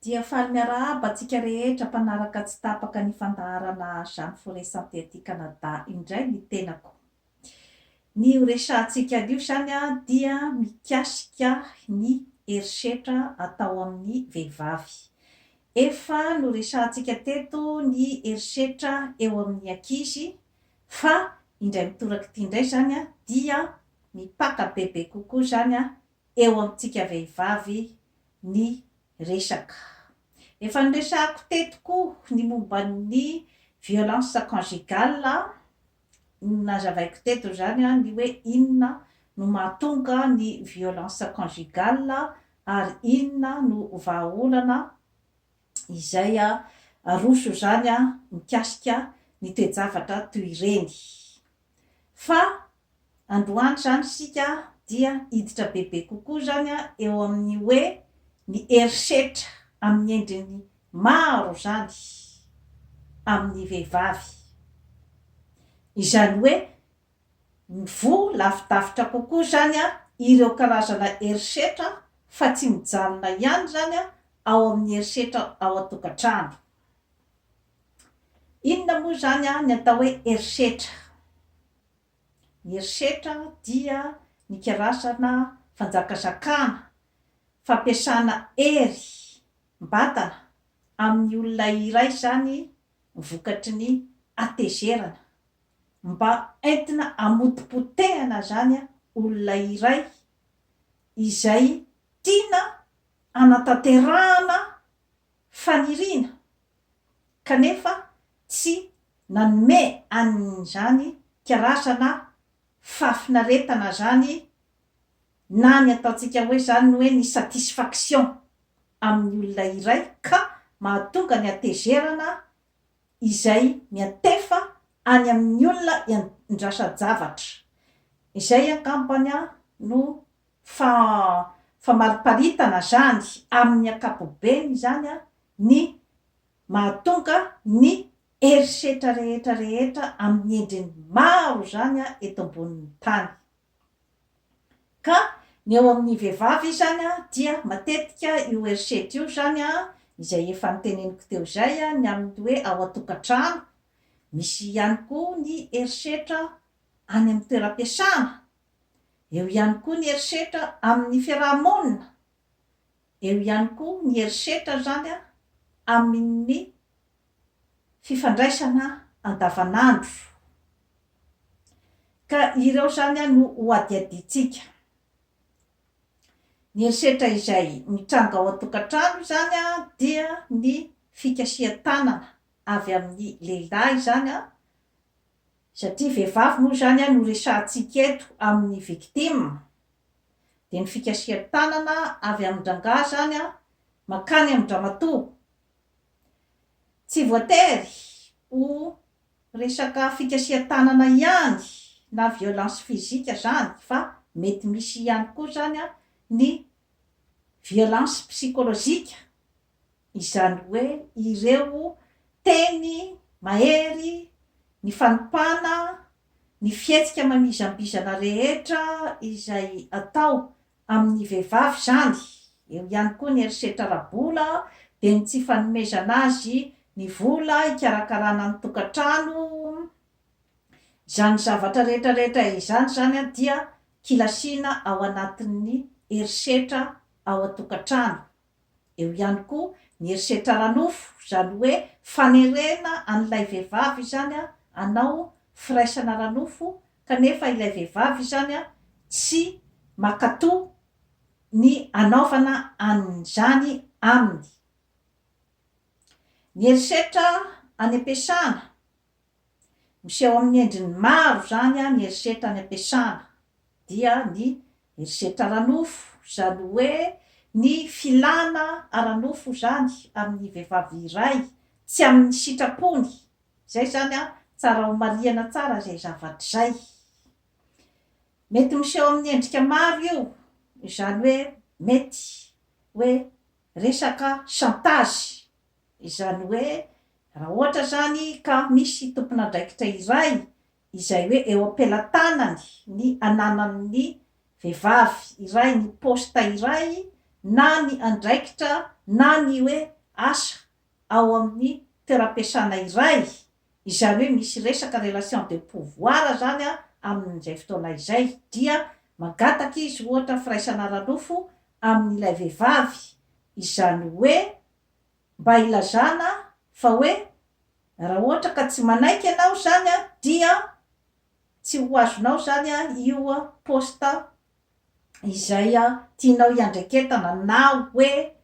Dia faly miarahaba antsika rehetra mpanaraka tsy tapaka ny fandaharana Jeanne Forêt Santé aty Canada indray ny tenako. Ny ho resahantsika anio izany dia mikasika ny herisetra atao amin'ny vehivavy. Efa noresahantsika teto ny herisetra eo amin'ny ankizy fa indray mitoraka ity indray izany dia mipaka bebe kokoa izany eo amintsika vehivavy ny resaka. Efa noresahako teto koa ny momba ny violence conjugale an, nazavaiko teto izany an ny hoe inona no mahatonga ny violence conjugale ary inona no vahaolana izay aroso izany mikasika ny toe-javatra toy ireny. Fa androany izany isika dia hiditra bebe kokoa izany eo amin'ny hoe ny herisetra amin'ny endriny maro izany amin'ny vehivavy. Izany hoe mivoha lavidavitra kokoa izany ireo karazana herisetra fa tsy mijanona ihany izany ao amin'ny herisetra ao an-tokantrano. Inona moa izany an ny atao hoe herisetra? Ny herisetra dia ny karazana fanjakazakana, fampiasana hery mbatana amin'ny olona iray izany vokatry ny hatezerana mba entina hamotipotehana izany olona iray izay tiana hanatanterahana faniriana kanefa tsy nanome an'izany karazana fahafinaretana izany na ny ataontsika hoe izany hoe ny satisfaction amin'ny olona iray ka mahatonga ny hatezerana izay miantefa any amin'ny olona iandrasan-javatra. Izay angambany no Fa famariparitana zany amin'ny ankapobeny izany ny mahatonga ny herisetra rehetra rehetra amin'ny endriny maro izany eto ambonin'ny tany. Ka ny eo amin'ny vehivavy izany dia matetika io herisetra io izany izay efa noteneniko teo izay ny amin'ny hoe ao an-tokantrano, misy ihany koa ny herisetra any amin'ny toeram-piasana Eo ihany koa ny herisetra amin'ny fiaraha-monina. Eo ihany koa ny herisetra izany amin'ny fifandraisana andavanandro. Ka ireo izany no hohadihadiantsika. Ny herisetra izay mitranga ao an-tokantrano izany dia ny fikasihan-tanana avy amin'ny lehilahy izany. Satria vehivavy moa izany no resahantsika eto amin'ny victime dia ny fikasihan-tanana avy amin-drangahy izany mankany amin-dramatoa. Tsy voatery ho resaka fikasihan-tanana ihany na violence physique izany fa mety misy ihany koa izany ny violence psychologique Izany hoe ireo teny mahery, ny fanompana, ny fihetsika manizambizana rehetra izay atao amin'ny vehivavy izany, eo ihany koa ny herisetra ara-bola, dia ny tsy fanomezana azy ny vola hikarakarana ny tokantrano, izany zavatra rehetra rehetra izany izany dia kilasiana ao anatin'ny herisetra ao an-tokantrano. Eo ihany koa ny herisetra ara-nofo, izany hoe fanerena an'ilay vehivavy izany hanao firaisana ara-nofo kanefa ilay vehivavy izany tsy mankatò ny hanaovana an'izany aminy. Ny herisetra any am-piasana, Miseho amin'ny endriny maro izany ny herisetra any am-piasana, dia ny herisetra ara-nofo, izany hoe ny filana ara-nofo izany amin'ny vehivavy iray tsy amin'ny sitrapony, izay izany tsara homarihana tsara izay zavatra izay. Mety miseho amin'ny endrika maro io, izany hoe mety hoe resaka chantage Izany hoe raha ohatra izany ka misy tompon'andraikitra iray izay hoe eo am-pelatanany ny ananan'ny vehivavy iray ny poste iray na ny andraikitra na ny hoe asa ao amin'ny toeram-piasana iray, izany hoe misy resaka relation de pouvoir izany amin'izay fotoana izay dia mangataka izy ohatra firaisana ara-nofo amin'ilay vehivavy, izany hoe mba hilazana fa hoe raha ohatra ka tsy manaiky ianao izany dia tsy ho azonao izany io poste izay tianao hiandraiketana na hoe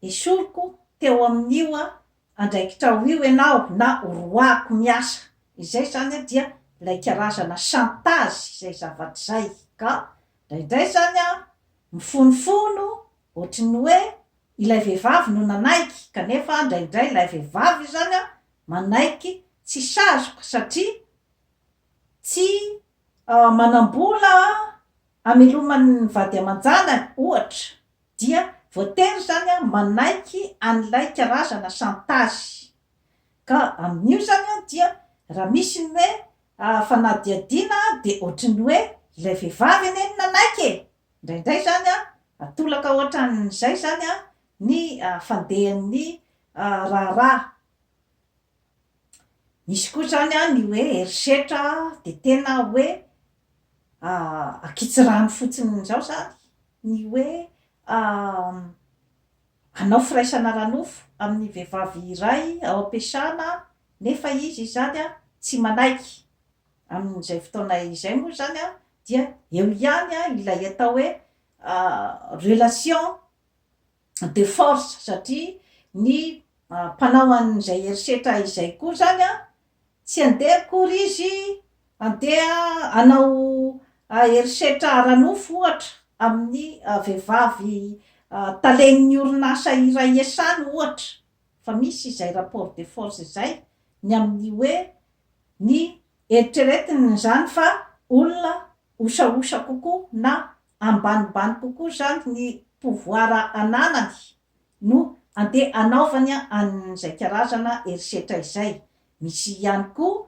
esoriko teo amin'io andraikitrao io ianao na horoahiko miasa. Izay izany dia ilay karazana chantage izay zavatra izay ka indraindray izany mifonifono Ohatry ny hoe ilay vehivavy no nanaiky kanefa indraindray ilay vehivavy izany manaiky tsy sazoka satria tsy manam-bola hamelomany ny vady aman-janany ohatra dia voatery izany manaiky an'ilay karazana chantage. Ka amin'io izany dia raha misy ny hoe fanadihadiana dia ohatry ny hoe ilay vehivavy anie no nanaiky e! Indraindray izany an, atolaka hoatran'izay izany an, ny fandehan'ny raharaha. Misy koa izany an, ny hoe herisetra dia tena hoe ankitsirano fotsiny izao izany ny hoe hanao firaisana ara-nofo amin'ny vehivavy iray ao am-piasana nefa izy izany an, tsy manaiky. Amin'izay fotoana izay moa izany dia eo ihany ilay atao hoe relation de force satria ny mpanao an'izay herisetra izay koa izany tsy handeha akory izy handeha hanao herisetra ara-nofo ohatra amin'ny vehivavy talen'ny orinasa iray iasany ohatra. fa misy izay rapport de force izay ny amin'ny hoe ny eritreretiny izany fa olona osaosa kokoa na ambanimbany kokoa izany ny pouvoir ananany no andeha anaovany an'izay karazana herisetra izay. Misy ihany koa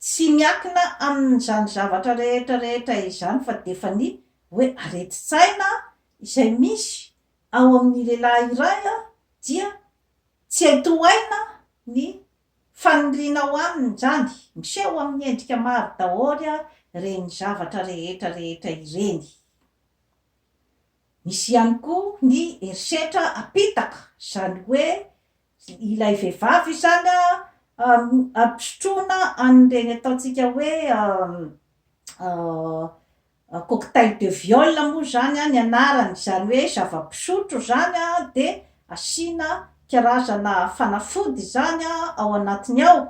tsy miankina amin'izany zavatra rehetra rehetra izany fa dia efa ny hoe aretin-tsaina izay misy ao amin' ny lehilahy iray dia tsy hay tohaina ny faniriana ao aminy izany, miseho amin' ny endrika maro daholo ireny zavatra rehetra rehetra ireny. Misy ihany koa ny herisetra apitaka, izany hoe ilay vehivavy izany ampisotroana an' ireny ataontsika hoe Cocktail de viol moa izany an, ny anarany, izany hoe zava-pisotro izany an, dia asiana karazana fanafody izany an ao anatiny ao,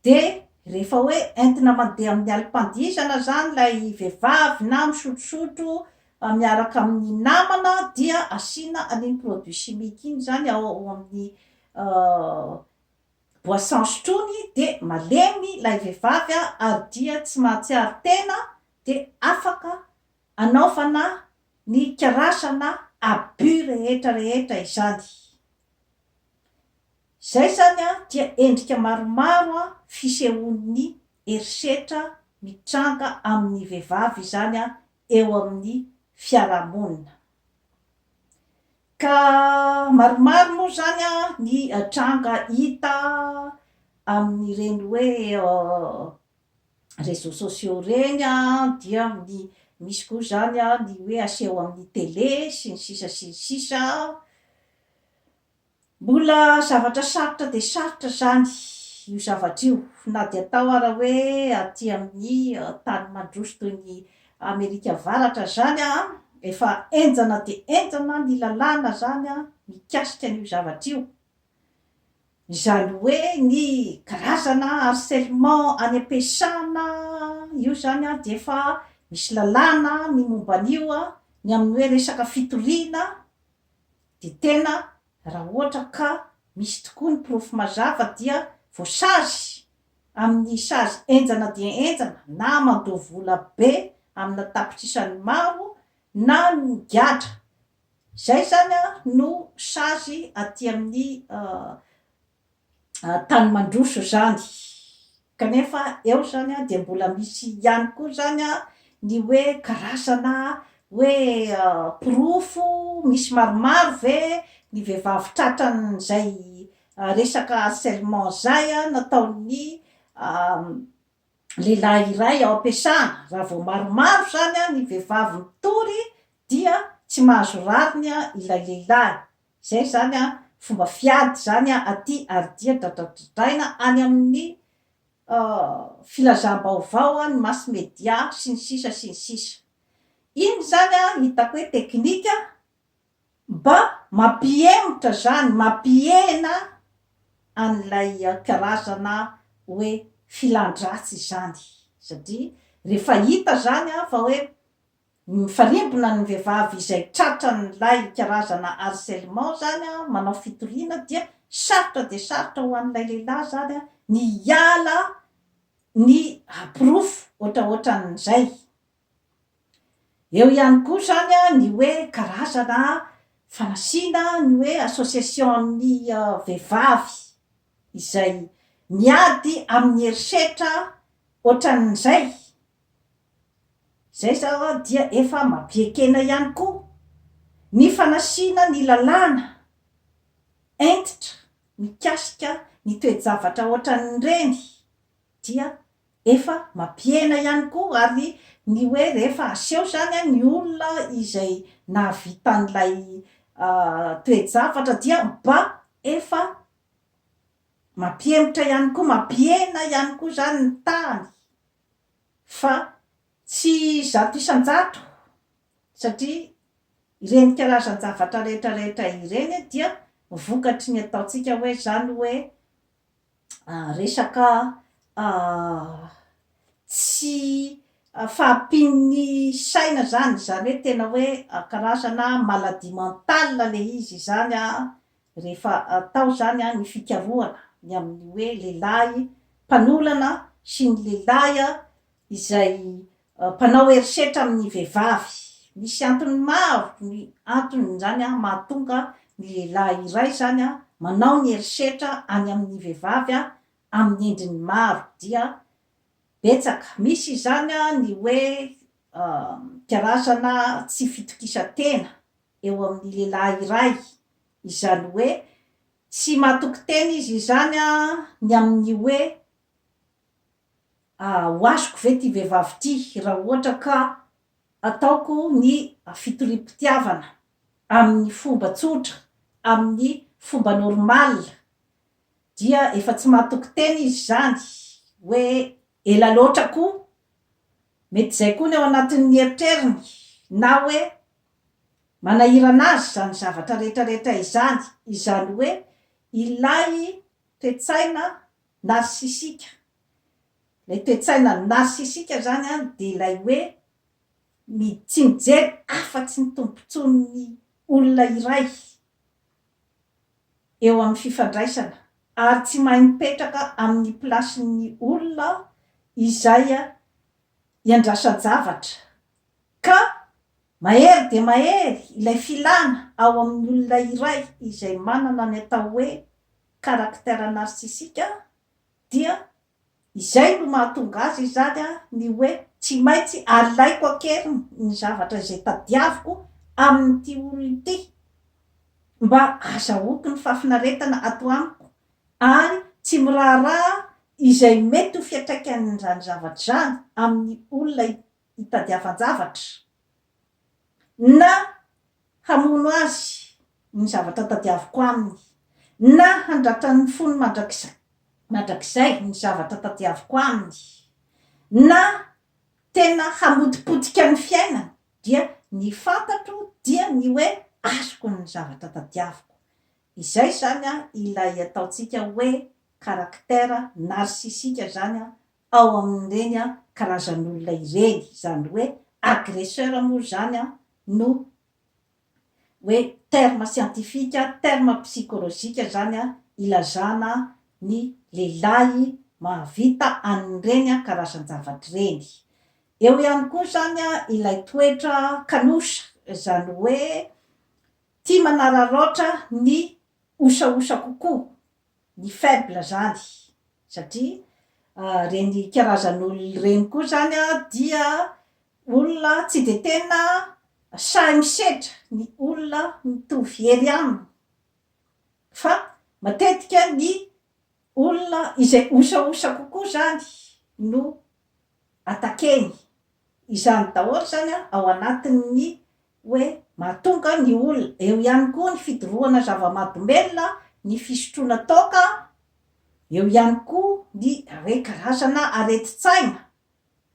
dia rehefa hoe entina mandeha amin'ny alim-pandihizana izany ilay vehivavy na misotrosotro miaraka amin'ny namana dia asiana an'iny produit chimique iny izany ao amin'ny Boisson sotroiny dia malemy ilay vehivavy ary dia tsy mahatsiaro tena dia afaka anaovana ny karazana abus rehetra rehetra izany. Izay izany dia endrika maromaro fisehoan'ny herisetra mitranga amin'ny vehivavy izany eo amin'ny fiarahamonina. Ka maromaro moa izany ny tranga hita amin'ireny hoe réseaux sociaux ireny dia ny misy koa izany ny hoe aseho amin'ny télé sy ny sisa sy ny sisa. Mbola zavatra sarotra dia sarotra izany io zavatra io, na dia atao ara hoe aty amin'ny tany mandroso toy ny Amerika Avaratra izany an, efa henjana dia henjana ny lalàna izany an, mikasika an'io zavatra io. Izany hoe ny karazana harcèlement any am-piasana io izany an, dia efa misy lalàna ny momba an'io an, ny amin'ny hoe resaka fitoriana, Dia tena raha ohatra ka misy tokoa ny porofo mazava dia voasazy amin'ny sazy henjana dia henjana na mandoa vola be amina tapitrisany maro na migadra. Izay izany no sazy aty amin'ny tany mandroso izany. Kanefa eo izany dia mbola misy ihany koa izany ny hoe karazana hoe porofo misy maromaro ve ny vehivavy tratran'izay resaka harcèlement izay nataon'ny lehilahy iray ao am-piasana. Raha vao maromaro izany ny vehivavy mitory dia tsy mahazo rariny ilay lehilahy. Izay izany an, fomba fiady izany an aty ary dia dadadodaina any amin'ny filazam-baovao an, ny mass media sy ny sisa sy ny sisa. Iny izany an hitako hoe teknika mba mampihemotra izany, mampihena an'ilay karazana hoe filan-dratsy izany satria rehefa hita izany an fa hoe Mifarimbona ny vehivavy izay tratran'ilay karazana harcèlement zany manao fitoriana dia sarotra dia sarotra ho an'ilay lehilahy zany ny hiala ny haporofo ohatraohatran'izay. Eo ihany koa zany ny hoe karazana fanasina ny hoe association-n'ny vehivavy izay miady amin'ny herisetra ohatran'izay. Izay izao dia efa mampiekena ihany koa ny fanasina ny lalàna hentitra mikasika ny toe-javatra ohatran'ireny dia efa mampihena ihany koa ary ny hoe rehefa aseho izany ny olona izay nahavita an'ilay toe-javatra dia mba efa mampihemotra ihany koa, mampihena ihany koa izany ny tahany. Fa tsy zato isan-jato, satria ireny karazan-javatra rehetra rehetra ireny dia vokatry ny ataontsika hoe izany hoe resaka tsy fahampian'ny saina izany, izany hoe tena hoe karazana maladie mentale ilay izy izany Rehefa atao izany ny fikarohana ny amin'ny hoe lehilahy mpanolana sy ny lehilahy izay mpanao herisetra amin'ny vehivavy, misy antony maro ny anton'izany mahatonga ny lehilahy iray izany manao ny herisetra any amin'ny vehivavy amin'ny endriny maro dia betsaka. Misy izany ny hoe mpiarazana tsy fitokisan-tena, eo amin'ny lehilahy iray, izany hoe tsy matoky tena izy izany ny amin'ny hoe ho azoko ve ity vehivavy ity raha ohatra ka ataoko ny fitoriam-pitiavana amin'ny fomba tsotra, amin'ny fomba normal, dia efa tsy matoky tena izy izany hoe ela loatra koa, mety izay koa ny ao anatin'ny eritreriny na hoe Manahirana azy izany zavatra rehetrarehetra izany, izany hoe ilay toe-tsaina narsisika. Ilay toe-tsaina narsisika izany dia ilay hoe mi, tsy mijery afa-tsy ny tombontsoan'ny olona iray eo amin'ny fifandraisana ary tsy mahay mipetraka amin'ny plasin'ny olona izay iandrasan-javatra. Ka mahery dia mahery ilay filana ao amin'ny olona iray izay manana ny atao hoe caractère narcissique dia izay no mahatonga azy izany ny hoe tsy maintsy alaiko an-keriny ny zavatra izay tadiaviko amin'ity olona ity mba azahoako ny fahafinaretana ato amiko ary tsy miraharaha izay mety ho fiantraikan'izany zavatra izany amin'ny olona hitadiavan-javatra na hamono azy ny zavatra tadiaviko aminy, na handratran'ny fony mandrakizay mandrakizay ny zavatra tadiaviko aminy, na tena hamotipotika ny fiainany, dia ny fantatro dia ny hoe azoko ny zavatra tadiaviko. Izay izany ilay ataontsika hoe caractère narcissique izany ao amin'ireny karazan'olona ireny, izany hoe agresseur moa izany no hoe terme scientifique, terme psychologique izany ilazana ny lehilahy mahavita an'ireny karazan-javatra ireny. Eo ihany koa izany ilay toetra kanosa, izany hoe tia manararaotra ny osaosa kokoa, ny faible izany satria ireny karazan'olona ireny koa izany dia olona tsy dia tena sahy misedra ny olona mitovy hery aminy fa matetika ny olona izay osaosa kokoa izany no attaquer-ny. Izany daholo izany ao anatin'ny hoe mahatonga ny olona, eo ihany koa ny fidorohana zava-mahadomelina, ny fisotroana toaka, eo ihany koa ny re karazana aretin-tsaina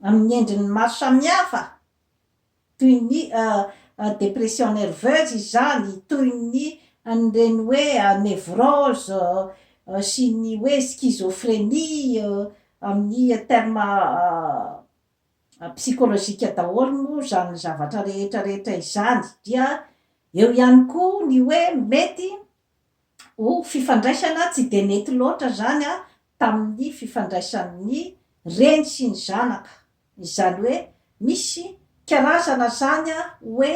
amin'ny endriny maro samihafa toy ny depression nerveuse izany, toy ny an'ireny hoe nevrose sy ny hoe schizophrenie amin'ny terme psikolojika daholo moa izany zavatra rehetra rehetra izany, dia eo ihany koa ny hoe mety ho fifandraisana tsy dia nety loatra izany tamin'ny fifandraisan'ny reny sy ny zanaka, izany hoe misy karazana izany hoe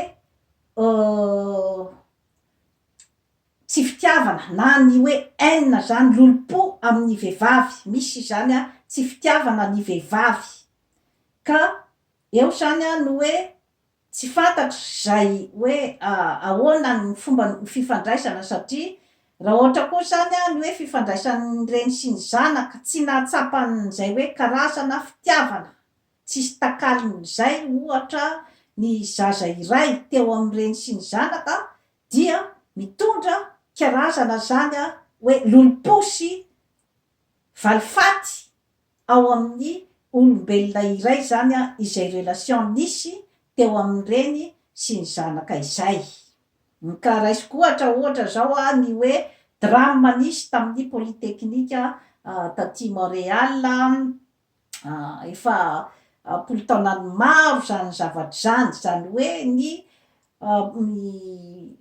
Tsy fitiavana na ny hoe haine zany lolompo amin'ny vehivavy misy izany a, tsy fitiavana ny vehivavy ka eo zany a no hoe tsy fantatro zay hoe ahoana ny fomba ny fifandraisana satria raha ohatra koa zany a ny hoe fifandraisan'ny reny sy ny zanaka tsy nahatsapa an'izay hoe karazana fitiavana tsisy takalon'izay ohatra ny zaza iray teo amin'ny reny sy ny zanaka dia mitondra karazana zany hoe lolomposy valifaty ao amin'ny olombelona iray zany izay relation nisy teo amin'ny reny sy ny zanaka izay. Ka raisiko ohatra ohatra zao ny hoe drame nisy tamin'ny polytechnique taty Montréal efa am-polo taonany maro izany zavatra izany, izany hoe ny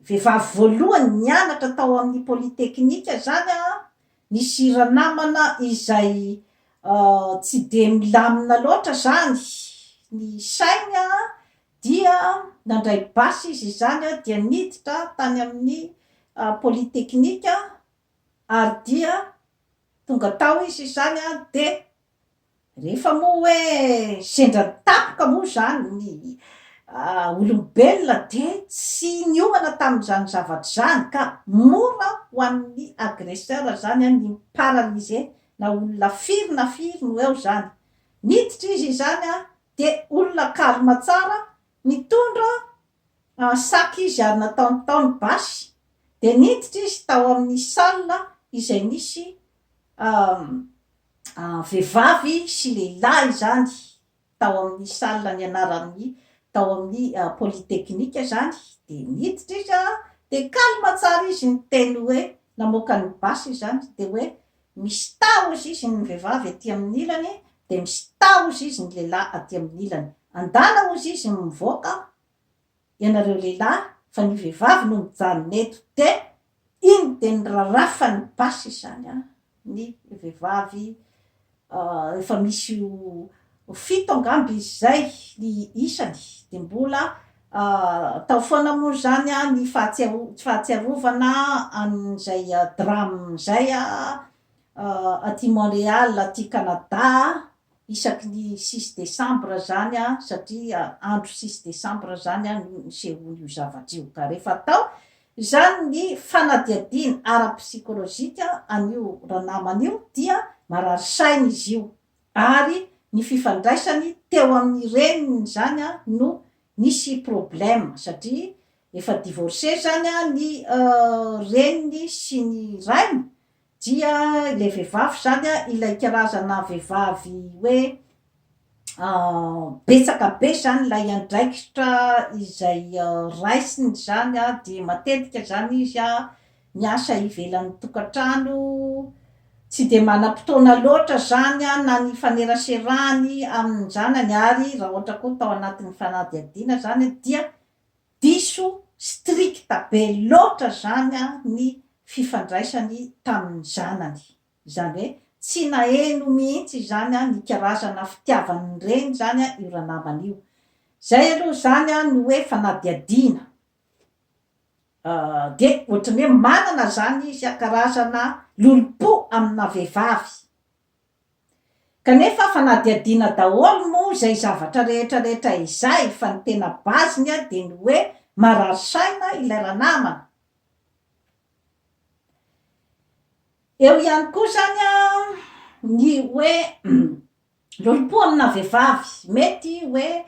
vehivavy voalohany nianatra tao amin'ny polytechnique izany an, nisy ranamana izay tsy dia milamina loatra izany ny sainy an, dia nandray basy izy izany dia niditra tany amin'ny polytechnique ary dia tonga tao izy izany dia rehefa moa hoe sendra tampoka moa izany ny olombelona dia tsy niomana tamin'izany zavatra izany ka mora ho an'ny agresseur izany ny mi-paralyser na olona firy na firy no eo izany. Niditra izy izany dia olona karma tsara Nitondra sac izy ary nataony tao ny basy dia niditra izy tao amin'ny salle izay nisy vehivavy sy lehilahy izany tao amin'ny salle nianaran'ny tao amin'ny polytechnique izany dia niditra izy dia calme tsara izy niteny hoe namoaka ny basy izany dia hoe Mistaoz izy ny vehivavy aty amin'ny ilany dia mistaoz izy ny lehilahy aty amin'ny ilany. Andalaoz izy ny mivoaka ianareo lehilahy fa ny vehivavy no mijanona eto dia iny dia ny rarafan'ny basy izany an! ny vehivavy efa misy Ho fito angamba izy izay ny isany, dia mbola tao foana moa izany ny fahatsiarovana an'izay drame izay aty Montréal aty Canada isaky ny six décembre izany satria andro six décembre izany no nisehoan'io zavatra io ka rehefa atao izany ny fanadihadiana ara-psychologique an'io ranamana io dia marary saina izy io ary ny fifandraisany teo amin'ny reniny izany no nisy problème satria efa divorcé izany ny reniny sy ny rainy dia ilay vehivavy izany ilay karazana vehivavy hoe betsaka be izany ilay andraikitra izay raisiny izany dia matetika izany izy Miasa ivelan'ny tokantrano, tsy dia manam-potoana loatra zany na ny hifaneraserany amin'ny zanany ary raha ohatra koa tao anatin'ny fanadihadiana zany dia diso strict be loatra zany ny fifandraisany tamin'ny zanany, izany hoe tsy naheno mihitsy izany ny karazana fitiavan'ny reny zany io ranamana io. Zay aloha zany no hoe fanadihadiana Dia ohatran'ny hoe manana izany izy an, karazana lolompo amina vehivavy. Kanefa fanadihadiana daholo moa izay zavatra rehetra rehetra izay fa ny tena base-ny dia ny hoe marary saina ilay ranamana. Eo ihany koa izany an ny hoe Lolompo amina vehivavy, mety hoe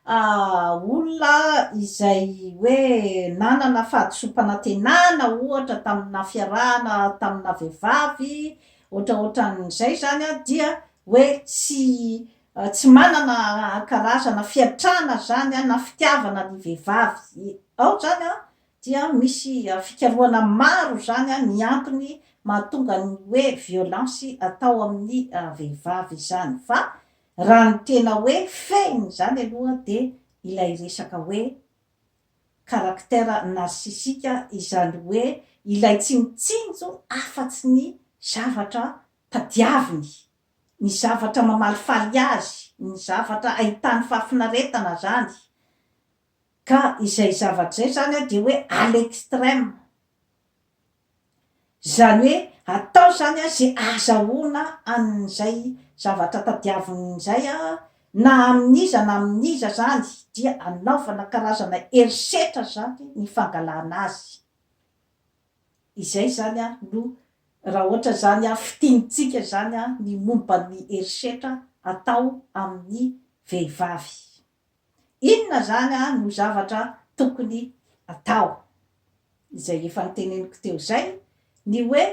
olona izay hoe nanana fahadisoam-panantenana ohatra tamina fiarahana tamina vehivavy ohatraohatran'izay izany dia hoe tsy tsy manana karazana fiantrana izany na fitiavana ny vehivavy ao izany an, dia misy fikarohana maro izany ny antony mahatonga ny hoe violence atao amin'ny vehivavy izany fa raha ny tena hoe fehiny izany aloha dia ilay resaka hoe caractère narcissique izany hoe ilay tsy mitsinjo afatsy ny zavatra tadiaviny, ny zavatra mamalifaly azy, ny zavatra ahitany fahafinaretana izany Ka izay zavatra izay izany dia hoe à l'extrême. Izany hoe atao izany izay ahazahoana an'izay zavatra tadiavina izay na amin'iza na amin'iza izany dia anaovana karazana herisetra izany ny fangalana azy. Izay izany no raha ohatra izany fitinintsika izany ny momba ny herisetra atao amin'ny vehivavy. Inona izany no zavatra tokony hatao? Izay efa noteneniko teo izay, ny hoe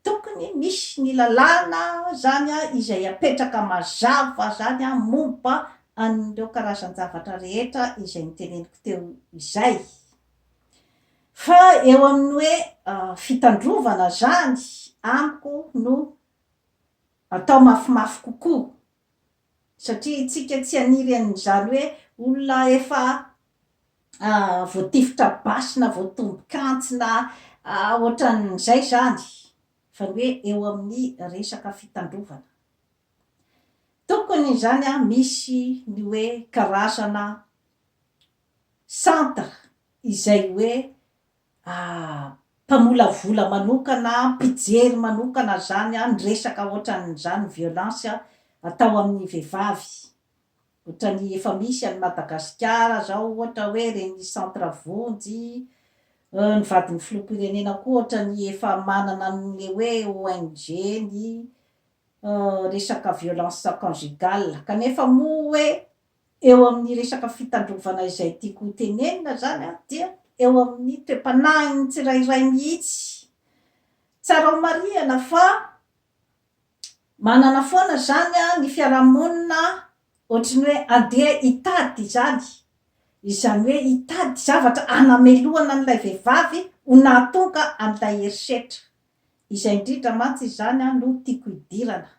tokony misy ny lalàna izany izay apetraka mazava izany momba an'ireo karazan-javatra rehetra izay noteneniko teo izay. Fa eo amin'ny hoe fitandrovana izany amiko no atao mafimafy kokoa Satria itsika tsy haniry an'izany hoe olona efa voatifitra basy na voatombin-kantsy na ohatran'izay izany fa ny hoe eo amin'ny resaka fitandrovana. Tokony izany misy ny hoe karazana centre izay hoe Ah mpamolavola manokana ah, mpijery manokana zany ah ny resaka otrany zany violence ah atao aminy vevavy otrany efa misy any Madagasikara zao ohatra hoe reny centre vonjy eh ny vadiny filoham-pirenena koa otrany efa manana any le hoe ONG ny eh resaka violence conjugale kanefa moa hoe Eo amin'ny resaka fitandrovana izay tiako ho tenenina izany dia eo amin'ny toe-panahin'ny tsirairay mihitsy. Tsara homarihana fa manana foana izany ny fiarahamonina ohatry ny hoe andeha hitady izany, izany hoe hitady zavatra hanamelohana an'ilay vehivavy ho nahatonga an'ilay herisetra. Izay indrindra mantsy izany no tiako hidirana.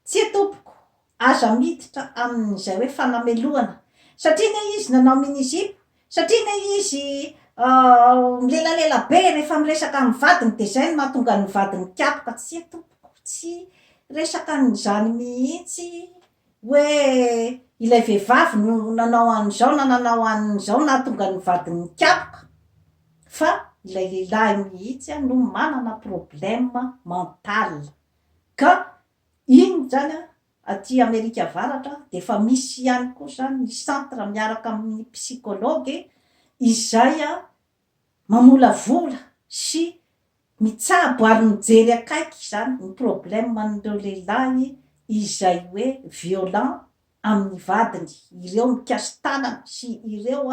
Tsia tompoko, aza miditra amin'izay hoe fanamelohana, satria anie izy nanao mini-zipo, satria anie izy milelalela be rehefa miresaka amin'ny vadiny dia izay no mahatonga ny vadiny mikapoka, tsia tompoko, tsy resaka an'izany mihitsy hoe ilay vehivavy no nanao an'izao na nanao an'izao nahatonga ny vadiny nikapoka, fa ilay lehilahy mihitsy no manana problème mental. Ka iny zany an, aty Amerika Avaratra dia efa misy ihany koa zany ny centre miaraka amin'ny psychologue izay an mamolavola sy mitsabo ary mijery akaiky izany ny problème an'ireo lehilahy izay hoe violent amin'ny vadiny ireo mikasi-tanana sy ireo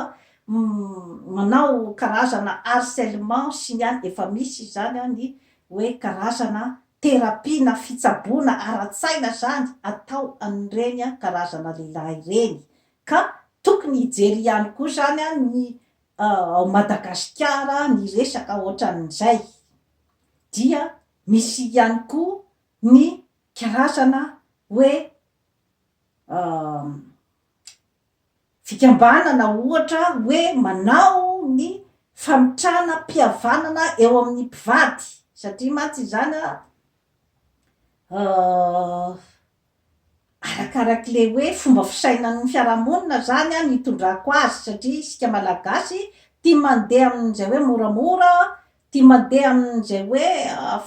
manao karazana harcèlement sy ny any efa misy izany ny hoe karazana thérapie na fitsaboana ara-tsaina izany atao an'ireny karazana lehilahy ireny ka tokony hijery ihany koa izany ny ao Madagasikara ny resaka ohatran'izay dia misy ihany koa ny karazana hoe fikambanana ohatra hoe manao ny famitrana mpihavanana eo amin'ny mpivady satria mantsy izany a arakarak'le hoe fomba fisainan'ny fiarahamonina zany a ny itondrako azy satria isika malagasy tia mandeha amin'izay hoe moramora tia mandeha amin'izay hoe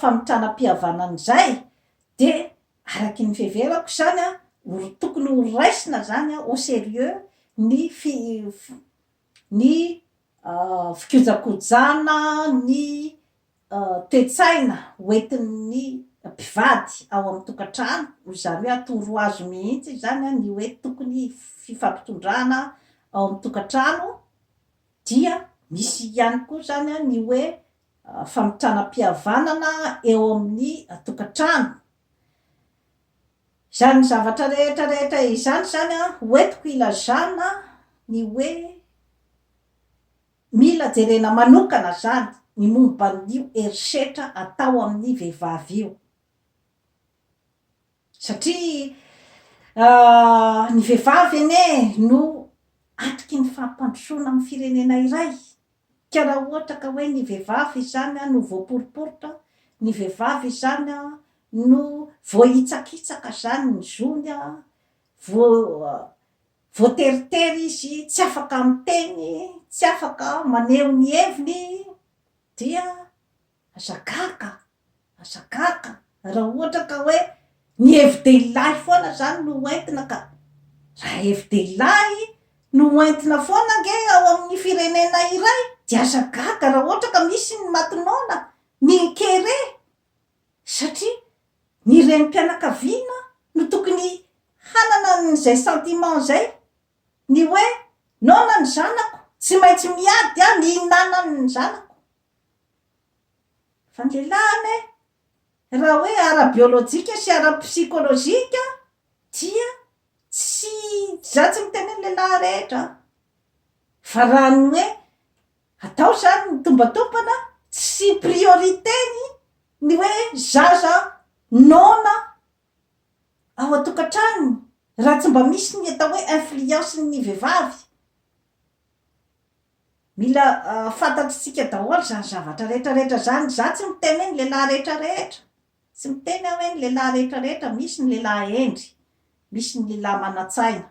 famitrana mpihavanana izay de Araky ny fiheverako izany an, ory tokony ho raisina izany an au serieux ny fi ny fikojakojana ny toe-tsaina hoentin'ny mpivady ao amin'ny tokantrano, noho izany hoe atoro azy mihitsy izany an ny hoe tokony fifampitondrana ao amin'ny tokantrano, dia misy ihany koa izany an ny hoe famitranam-pihavanana eo amin'ny tokantrano. Izany zavatra rehetra rehetra izany izany ho entiko ilazana ny hoe mila jerena manokana izany ny momba an'io herisetra atao amin'ny vehivavy io. Satria ny vehivavy anie no atoky ny fampandrosoana amin'ny firenena iray. Ka raha ohatra ka hoe ny vehivavy izany no voaporoporotra, ny vehivavy izany no voahitsakitsaka izany ny zony, voateritery izy, tsy afaka miteny, tsy afaka maneho ny heviny, dia Aza gaga, aza gaga raha ohatra ka hoe ny hevi-dehilahy foana izany no ho entina ka. Raha hevi-dehilahy no ho entina foana ange ao amin'ny firenena iray dia aza gaga raha ohatra ka misy ny maty noana, ny kere, satria ny renim-pianakaviana no tokony hanana an'izay sentiment izay, ny hoe noana ny zanako, tsy maintsy miady aho ny hinanan'ny zanako. Fangelana e! Raha hoe ara-biolojika sy ara-psikolojika dia tsy za tsy miteny ny lehilahy rehetra an! Fa raha ny hoe atao zany ny tombantombana sy priorité-ny ny hoe zaza noana ao an-tokantranony raha tsy mba misy ny atao hoe influence-ny vehivavy. Mila fantatsitsika daholo izany zavatra rehetra rehetra izany. Izaho tsy miteny hoe ny lehilahy rehetra rehetra. Tsy miteny aho hoe ny lehilahy rehetra rehetra. Misy ny lehilahy hendry, misy ny lehilahy manan-tsaina.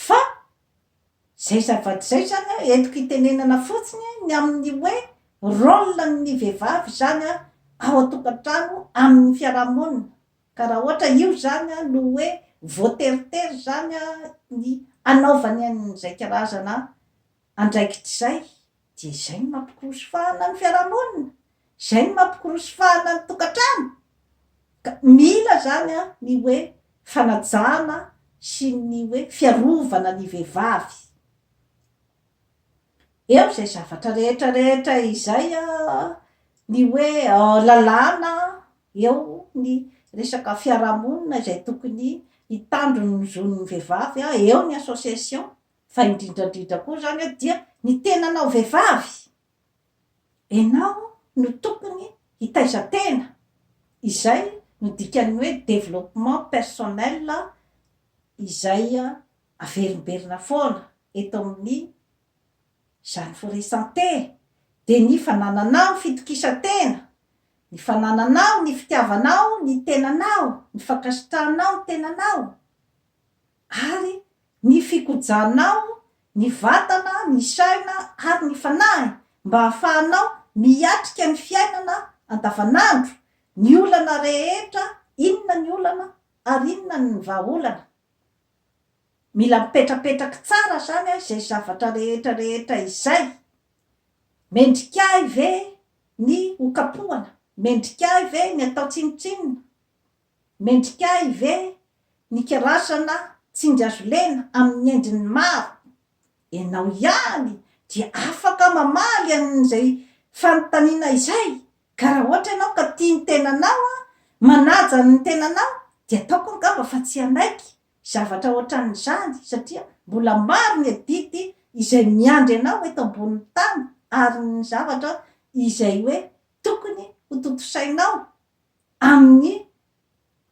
Fa izay zavatra izay izany an, entiko hitenenana fotsiny ny amin'ny hoe rôle-n'ny vehivavy izany ao an-tokantrano, amin'ny fiarahamonina. Ka raha ohatra io izany no hoe voateritery izany ny hanaovany an'izay karazana andraikitra izay dia izay no mampikorosy fahana ny fiarahamonina, izay no mampikorosy fahana ny tokantrano. Ka mila izany ny hoe fanajana sy ny hoe fiarovana ny vehivavy. Eo izay zavatra rehetra rehetra izay ny hoe lalàna Eo ny resaka fiarahamonina izay tokony hitandro ny zon'ny vehivavy, eo ny association, fa indrindra indrindra koa izany dia ny tenanao vehivavy. Enao no tokony hitaiza tena. Izay no dikan'ny hoe développement personnel izay averimberina foana eto amin'ny Izany foresan-te, dia ny fanananao ny fitokisan-tena, ny fanananao ny fitiavanao ny tenanao, ny fankasitrahanao ny tenanao, ary ny fikojanao ny vatana, ny saina, ary ny fanahy, mba hahafahanao miatrika ny fiainana andavanandro, ny olana rehetra, inona ny olana, ary inona ny vahaolana. Mila mipetrapetraky tsara zany izay zavatra rehetra rehetra izay. Mendrika ahy ve ny ho kapohana? Mendrika ahy ve ny atao tsinontsinona? Mendrika ahy ve ny kirazana tsinjazolena amin'ny endriny maro? Ianao ihany dia afaka mamaly an'izay fanontaniana izay Ka raha ohatra ianao ka tia ny tenanao, manaja ny tenanao, dia ataoko angamba fa tsy hanaiky zavatra ohatran'izany, satria mbola maro ny adidy izay miandry anao eto ambonin'ny tany, ary ny zavatra izay hoe tokony hotontosainao amin'ny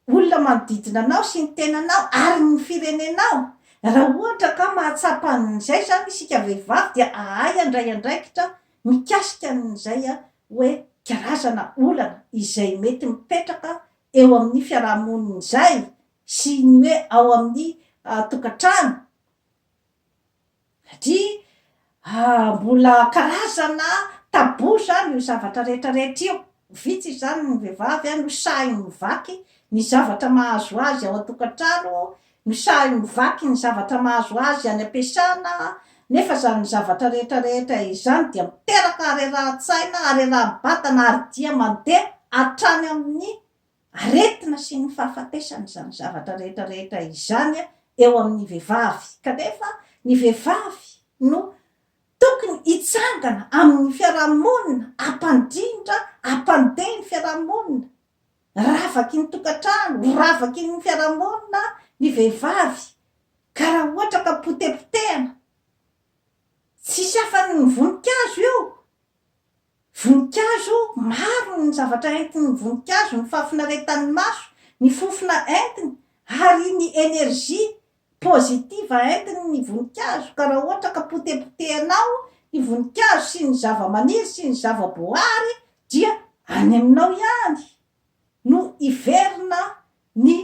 olona manodidina anao sy ny tenanao ary ny firenenao. Raha ohatra ka mahatsapa an'izay izany isika vehivavy dia ahay handray andraikitra mikasika an'izay hoe karazana olana izay mety mipetraka eo amin'ny fiarahamonina izay sy ny hoe ao amin'ny tokantrano Satria mbola karazana tabou izany io zavatra rehetra rehetra io. Vitsy izany ny vehivavy no sahy mivaky ny zavatra mahazo azy ao an-tokantrano, no sahy mivaky ny zavatra mahazo azy any am-piasana, nefa izany zavatra rehetra rehetra izany dia miteraka harerahan-tsaina, hareraha-batana ary dia mandeha hatrany amin'ny aretina sy ny fahafatesana izany zavatra rehetra rehetra izany eo amin'ny vehivavy kanefa ny vehivavy no tokony hitsangana amin'ny fiarahamonina hampandrindra hampandeha ny fiarahamonina ravaky ny tokantrano ravaky ny fiarahamonina ny vehivavy ka raha ohatra ka potepotehana tsisy afany ny voninkazo eo Voninkazo, maro ny zavatra entin'ny voninkazo, ny fahafinaretan'ny maso, ny fofona entiny, ary ny energie positive entiny ny voninkazo, ka raha ohatra ka potepotehanao ny voninkazo sy ny zavamaniry sy ny zavaboahary dia any aminao ihany no hiverina ny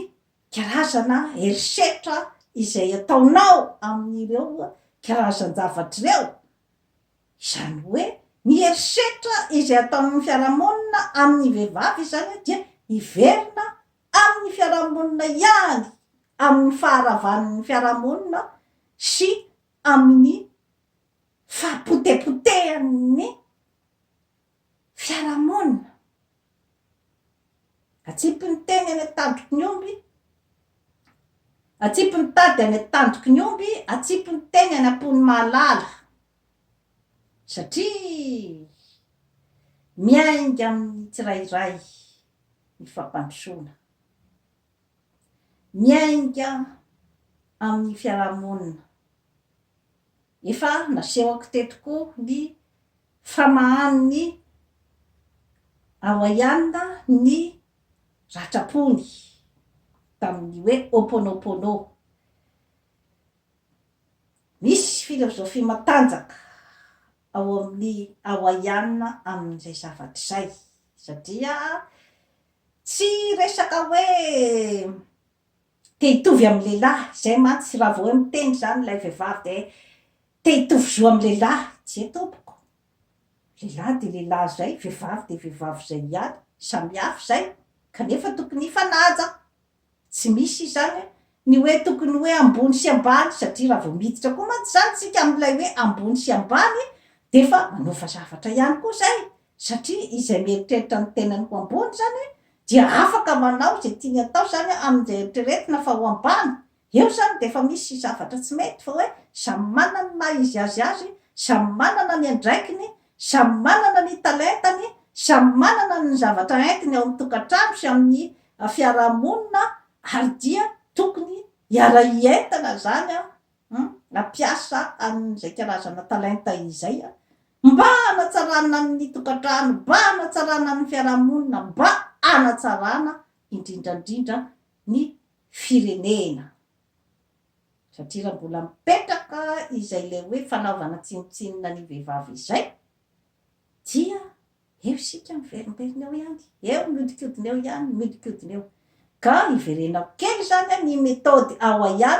karazana herisetra izay ataonao amin'ireo karazan-javatra ireo, Izany hoe ny herisetra izay ataon'ny fiarahamonina amin'ny vehivavy izany dia hiverina amin'ny fiarahamonina ihany amin'ny faharavan'ny fiarahamonina sy amin'ny fahapotepotehan'ny fiarahamonina. Atsipy ny teny any an-tandroky ny omby, atsipy ny tady any an-tandroky ny omby, atsipy ny teny any am-pon'ny mahalala. Satria miainga amin'ny tsirairay ny fampandrosoana. Miainga amin'ny fiarahamonina. Efa nasehoko teto koa ny famahan'ny Hawaiiana ny ratra-pony tamin'ny hoe Ho'oponopono. Misy filozofia matanjaka ao amin'ny Hawaiiana amin'izay zavatra izay, satria tsy resaka hoe te hitovy amin'ny lehilahy, izay mantsy raha vao hoe miteny izany ilay vehivavy dia te hitovy zo amin'ny lehilahy, tsia tompoko, lehilahy dia lehilahy izay, vehivavy dia vehivavy izay ihany, samihafa izay, kanefa tokony hifanaja, Tsy misy izany an! Ny hoe tokony hoe ambony sy ambany, satria raha vao miditra koa mantsy izany isika amin'ilay hoe ambony sy ambany dia efa manofa zavatra ihany koa izay, satria izay mieritreritra ny tenany ho ambony izany dia afaka manao izay tiany atao izany amin'izay eritreretina fa ho ambany. Eo izany dia efa misy zavatra tsy mety fa hoe samy manana ny maha izy azy azy, samy manana ny andraikiny, Samy manana ny talentany, samy manana ny zavatra entiny ao amin'ny tokantrano sy amin'ny fiarahamonina ary dia tokony hiara-hientana izany an, hampiasa an'izay karazana talenta izay an, mba hanatsarana ny tokantrano, mba hanatsarana ny fiarahamonina, mba hanatsarana indrindra indrindra ny firenena. Satria raha mbola mipetraka izay ilay hoe fanaovana tsinontsinona ny vehivavy izay dia eo isika miverimberina eo ihany, eo mihodinkodina eo ihany, mihodinkodina eo. Ka iverenako kely izany an, ny méthode ao ahian,